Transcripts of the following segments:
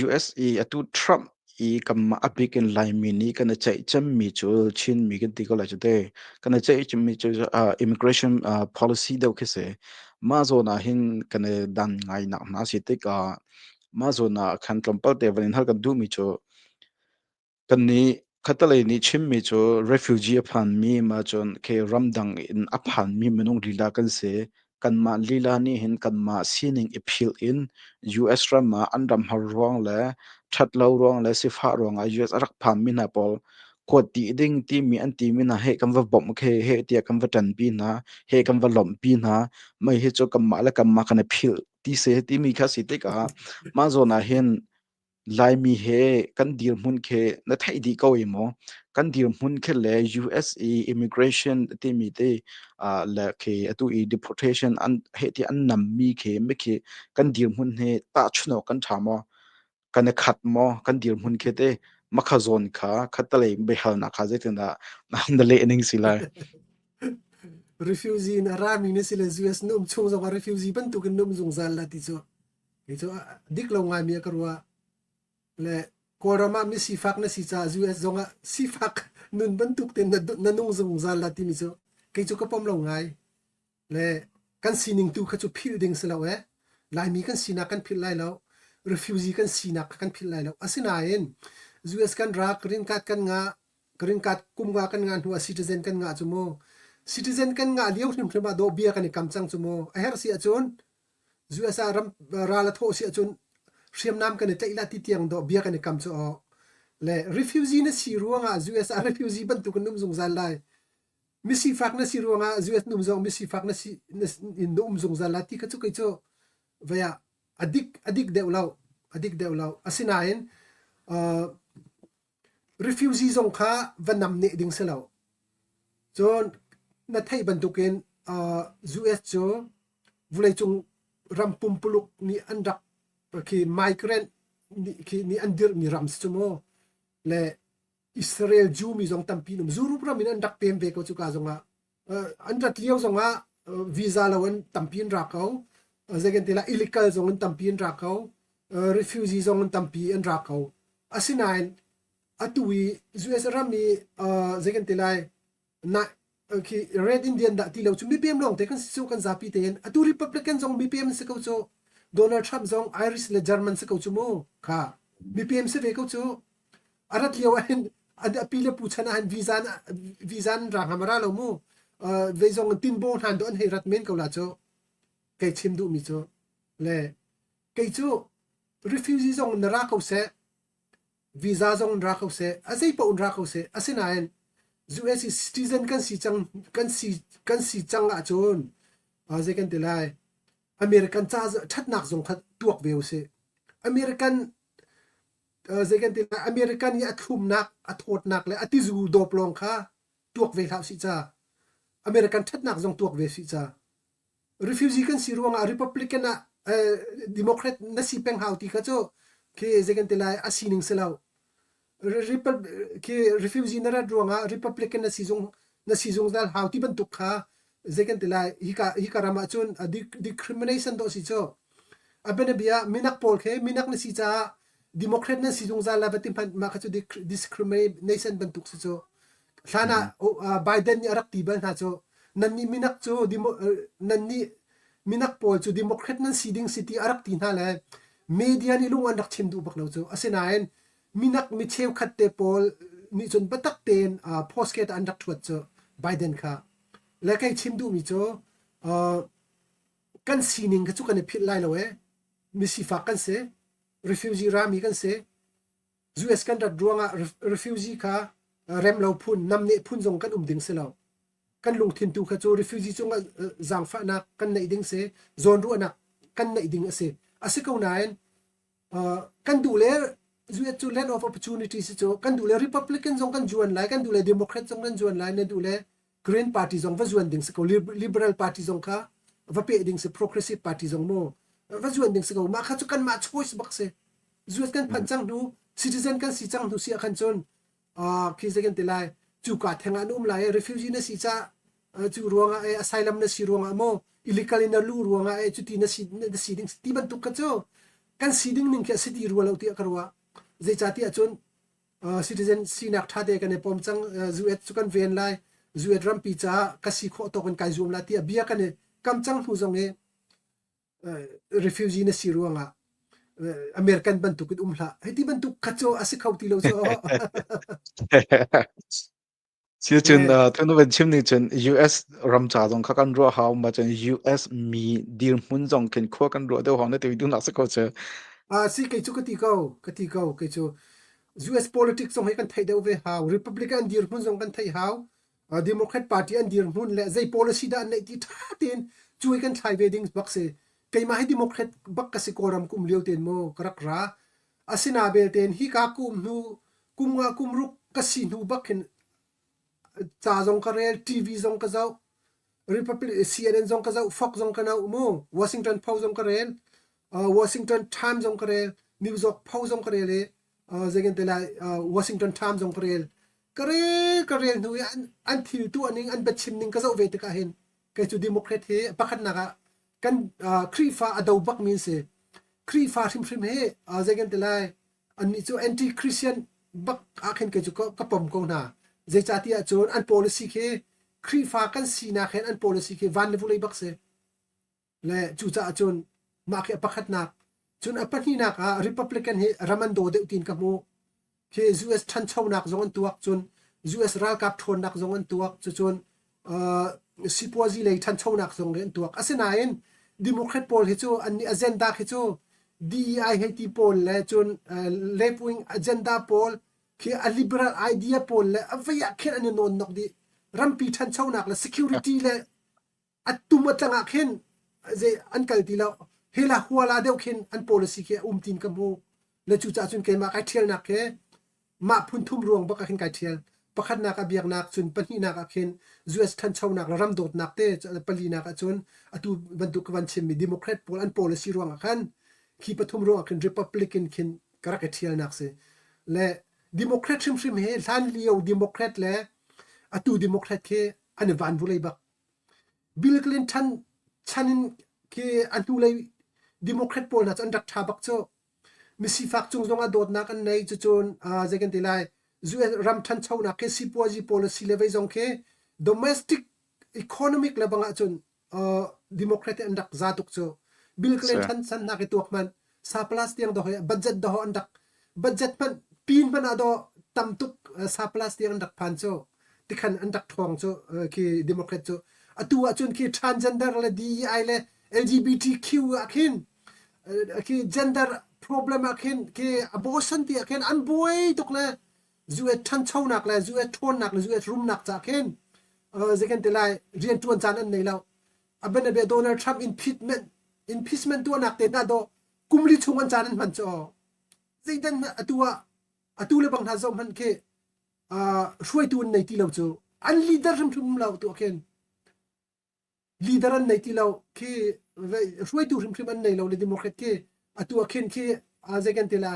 US i atu Trump i kanmah a bik in Laimi nih kan i ceih cemmi cu Chinmi kan ti ko lai cu te. Kan i ceih cemmi cu uh, immigration uh, policy deuh khi si. Mah zawn ah hin kan i dan ngainak hna si tikah mah zawn ah khan tlawmpal te van in hal kan duhmi cu Kannih Catalan nih chimmi cu refugee a phanmi maa cun okay ramdang in a phanmi minung lila kan si. Kanmah lila nih hin kanmah sining i philh in US ram ah an ram har ruang le ṭhatlo ruang le sifah ruang ah US a rak phanmi hna pawl kuat dih ding timi an timi hna he kan va bawmh okay he tiah kan va ṭanpi hna, he kan va lawmhpi hna. Mei hi cu kanmah le kanmah kan i philh ti si timi kha a si tikah mah zawn ah hin Laimi he kan dirhmun khi na theih dih ko i maw? Kan dirhmun khi le US i immigration timi te, ah le khi atu i deportation an heh ti an nammi khi mi khi kan dirhmun hi tahchunawk kan ṭha maw? Kan i khat maw? Kan dirhmun khi te makha zawn kha khattelei biahalnak kha zeitindah na han leh ning si lai? Refugee in a rami na si le US na um chung zongah refugee bantukin na um zungzal la ti cu. Kei cu dik lo ngaimi a ka ruah. Le Kawlram ah mi sifak na si caah US zong ah sifak nun bantuk te na nung zungzal la timi cu kei cu ka pom lo ngai. Le kan sining tu kha cu philh ding si lo ee. Laimi kan sinak kan philh lai lo. Refugee kan sinak kha kan philh lai lo. Asinain US kan rak, rinkat kan ngah, rinkat kumga kan ngah hnuah citizen kan ngah cu mu. Citizen kan ngah lio hrimhrim ah dawhbia kan i kam cang cu mu. A herh si ahcun USA ram ral a thawh si ahcun hriamnam kan i tlaih la ti tiang dawh bia kan i kam cu awk le refugee na si ruangah US ah refugee bantuk in um zungzal lai misifak na si ruangah US num zong misifak na si in na um zungzal lai ti kha cu kei cu vaya adik adik deuh lo adik deuh lo asinain uh, refugee zong kha va nam neh ding si lo. Cun na theih bantukin uh, US cu vuleicung ram pumpuluk nih an rak khi migrant nih khi nih an dirmi ram si mu le Israel Jew mi zong tampi num zurup ram in an rak pem ve ko cuka zongah an rat lio zongah visa lo in tampi an ra ko zeikan tilah illegal zong in tampi an ra ko refugee zong in tampi an ra ko asinain atu i US ram i zeikan tilai na khi red indian dah ti lo cu mipem lawng te kan si cu kan zapi tein atu republican zong mipem si ko cu donald trump zong irish le german si ko cu mu kha mipem si ve ko cu a rat lio ah hin a pi le pu chan ah hin visa visa an ra ngam ra lo mu vei zong tin bo hnan do an hei rat men ko la cu kei chim duh mi cu le kei cu refugee zong na ra ko se visa zong ra ko se a zei pa un ra ko se asinain US citizen kan si cang kan si kan si cang ah cun zei kan ti lai American ca thatnak zong kha tuak ve u si American zei kan ti lai America nih a thlumnak a thawtnak le a tizu dawp lawng kha tuak ve hlah usih ca American thatnak zong tuak ve usih ca refugee kan si ruangah Republican ah Democrat na si peng hau ti kha cu khi zei kan ti lai a sining si lo khi refugee na rat ruangah Republican na si zung na si zungzal hau ti bantuk kha zei kan ti lai hika hika ram ah cun discrimination dawh si cu a bianabia minak pawl khi minak na si caah democrat nan si zungzal la va ti hmanh mah kha cu discrimination bantuk si cu hlan ah Biden nih a rak ti bal hna cu nannih minak cu nannih minak pawl cu democrat nan si ding si ti a rak ti hna le media nih lung an rak chim duh bak lo cu asinain minak mi cheukhat te pawl nih cun biatak tein post ke ta an rak thuat cu Biden kha le ka i chim duhmi cu kan sining kha cu kan i philh lai lo e misifak kan si refugee rami kan si US kan rat ruangah refugee kha remlo phun namneh phun zong kan um ding si lo kan lungthin tu kha cu refugee cung zaangfahnak kan neih ding si zawn ruahnak kan neih ding a si a si ko nain kan duh le US cu land of opportunity si cu kan duh le Republican zong kan zuan lai kan duh le Democrat zong nan zuan lai nan duh le Green party zong va zuan ding si ko Liberal party zong kha va pe ding si progressive party zong mu va zuan ding si ko mah kha cu kan mah choice bak si US kan phan cang hnu citizen kan si cang hnu sia khan cun Ah, khi zei kan ti lai cuka theng ah an um lai i refugee na si cah cu ruangah eh asylum na si ruangah maw illegal in na luh ruangah eh cuti na si na si ding ti bantuk ka cu kan si ding ning khi a si ti rua lo tiah ka ruah zeicah tiah cun citizen sinak ṭha te kan i pom cang zuet cu kan ven lai zuet rampi caah ka si khawh tawk in kai zuam la tiah bia kan i kam cang hnu zong i refugee na si ruangah American bantuk in um hlah. Hei ti bantuk khacaw a si kho ti lo cu. Siu cun tunu ban chim ni cun US ram ca zong kha kan ruah hau ma cun US mi dirhmun zong khin khua kan ruah deuh hong na ti du nak se ko cu. Ah si kei cu ka ti ko ka ti ko kei cu US politics zong hi kan thei deuh ve hau Republican dirhmun zong kan thei hau Democrat Party an dirhmun le zei policy dah an neih ti ṭha tein cuai kan thlai ve ding bak si. Keimah hi Democrat bak ka si Kawlram kum lio ten maw ka rak ra. Asina belte hi ka kum hnu kum nga kum ruk ka si hnu bak hin ca zong ka rel, TV zong ka zoh, Republic CNN zong ka zoh, Fox zong ka nau mu, Washington Post zong ka rel, Washington Times zong ka rel, New York Post zong ka rel i zeikan te lai Washington Times zong ka rel. ka re ka rel hnu i an, an thil tuah ning an biachim ning ka zoh ve tikah hin kei cu democrat hi pakhatnak ah kan uh, Khrihfa a do bakmi an si Khrihfa hrimhrim hi uh, zei kan ti lai annih cu anti christian bak ah khin kei cu ka, ka pom ko hna zeicati ahcun an policy khi Khrihfa kan sinak hen an policy khi van le vulei bak si Le cucaah cun mah khi a pakhatnak cun a pahnihnak ah Republican hi ram an daw deuh tiin ka hmuh. Khi US ṭhanchonak zong an tuak cun US ralkap ṭhawnnak zong an tuak cucun uh, sipuazi lei ṭhanchonak zong nih an tuak. Asinain Democrat pawl hi cu annih agenda khi cu DEI hei ti pawl le cun uh, left wing agenda pawl khi a liberal idea pawl le a veiah khin an i nawn nok dih rampi ṭhanchonak le security le atum a tlangah khin an kal ti lo hela huala deuh khin an policy khi um tin ka hmu le cu cah cun keimah kai ṭhialnak khi mah phun thum ruang bak ah khin kai ṭhial pakhatnak a biaknak cun pahnihnak ah khin US ṭhanchonak le ram dawtnak te palinak ah cun atu bantuk van chimmi democrat pawl an policy ruang ah khan khi pathum ruang ah khin republican khin ka rak i ṭhialnak si le democrat hrimhrim he hlan lio democrat le atu democrat khi an van vulei bak Bill Clinton chan in khi a hnulei Democrat pawl hna cu an rak ṭha bak cu. Misifak cung zongah dawtnak an nei. Cucun zei kan ti lai, US ram ṭhanchonak khi sipuazi pawl a si le vei zong khi domestic economic le bang ahcun Democrat hi an rak za tuk cu. Bill Clinton chan hna khi tuak hmanh, Surplus tiang dawh le budget dawh an rak budget hmanh pin hmanh ah dawh tam tuk surplus tiang an rak phan cu tikhan an rak thuang cu khi democrat cu atu ahcun khi transgender le DEI le LGBTQ ah khin khi gender problem ah khin khi abortion ti ah khin an buai tuk le zu et thanchonak le zu et thawnnak le zu et rumnak ca khin zekan te lai rian tuan caan an nei lo A bianabia Donald Trump impeachment, impeachment tuahnak tehna ah doh kum li chung an caan an hman cu zeidan atu ah atu le bang hna zoh hmanh khi hruaitu an nei ti lo cu an leader hrimhrim lo tuah khin leader an nei ti lo khi hruaitu hrimhrim an nei lo le democrat khi atu a khin khi zei kan tila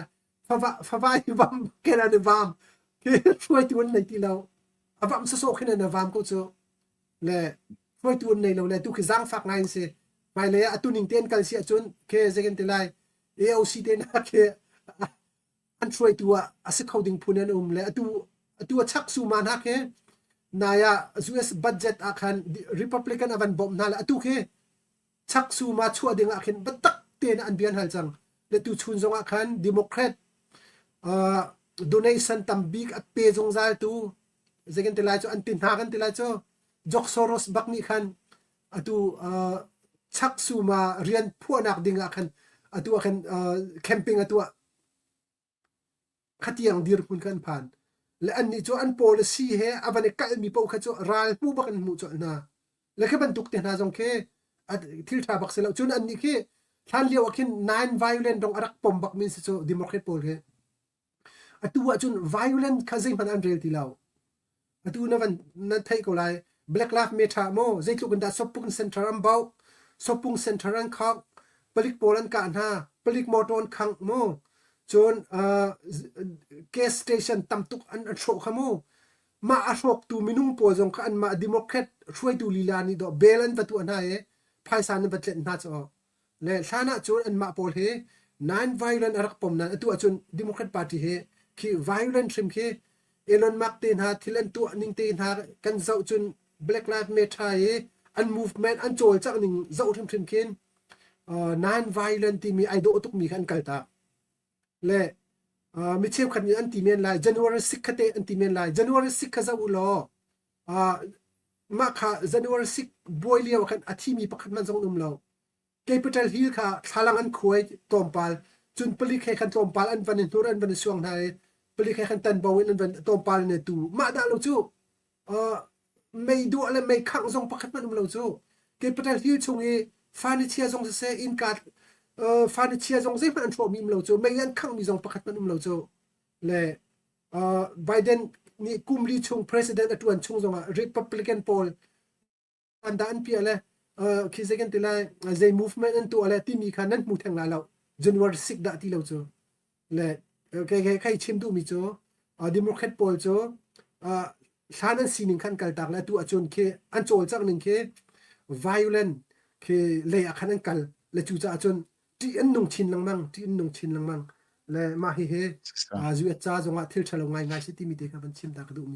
favai vam ken an vam hi hruaitu an nei ti lo a vam sasawh khin an vam ko cu le hruaitu an nei lo le tu khi zangfak ngai si mai le a tuning ten kal si ahcun ke zekan te lai AOC te na ke an hruaitu a asi kho ding phun an um le atu atu a chak su ma na ke naya US budget a khan Republican avan bom na le atu khi chaksum ah chuah ding ah khin biatak tein an bia hal cang le tuchun zong ah khan democrat uh, donation tam bik a pe zungzal tu zekin ti lai cu an ti hna kan ti lai cu jok soros bak nih khan atu uh, chak suma rian phuanak ding ah khan atu ah khan uh, camping atu ah khatiang dirhmun kha an phan. Le annih cu an policy he a van i kalhmi paoh kha cu ral hmu bak in hmuh colh hna. Le khi bantuk te hna zong khi thil ṭha bak si lo. Cun annih khi hlan lio ah khin non violent rong a rak pom bakmi si cu democrat pawl khi atu ah cun violent kha zeihmanh an rel ti lo. atu na van na thei ko lai black lak me tha mo zeitluk in dah sopung center an bau sopung center an khak palik pawl an kah hna palik motor an khang mo cun gas station tam tuk an an hrawh kha mo mah a hrawk tu minung pawl zong kha an mah democrat hruaitu lila nih do bel an va tuah hna e phaisa nan va tlet hna caw le hlan ahcun anmah pawl hi non-violent a rak pom nain atu ahcun Democrat Party hi khi violent hrim khi Elon Musk te hna thil an tuah ning te hna kan zoh cun Black Lives Matter i an movement an cawlcang ning zoh hrimhrim khin non-violent timi ai dawh tukmi kha an kaltak le mi cheukhat nih an ti men lai January 6 kha te an ti men lai January 6 kha zoh u law mah kha January 6 buai lio khan a thimi pakhat man zong um lo kei patel hil kha thlalang an khuai tlawmpal cun palik he khan tlawmpal an van i hnur an van i suang hna i palik he khan tan bo in an van tlawmpal ne tu mah da lo cu mei duah le mei khangh zong pakhat man um lo cu kei patel hil chung i furniture zong sase innka furniture zong zeihmanh an hrawh mi um lo cu mei an khangh mi zong pakhat man um lo cu le Biden nih kum li chung president a ṭuan chung zongah Republican pawl an da an piah le khi zei kan ti lai zei movement an tuah le timi kha nan hmu theng lai lo January 6 dah ti lo cu le kai chim duhmi cu Democrat pawl cu hlan an sining khan kaltak le atu ahcun khi an cawlcangh ning khi violent khi lei ah khan an kal le cu caah cun ṭih an nung chin lengmang, ṭih an nung chin lengmang. Le mah hihi, zu a ca zongah thil ṭhalo ngaingai si timi te kha van chim ta ka duhmi si.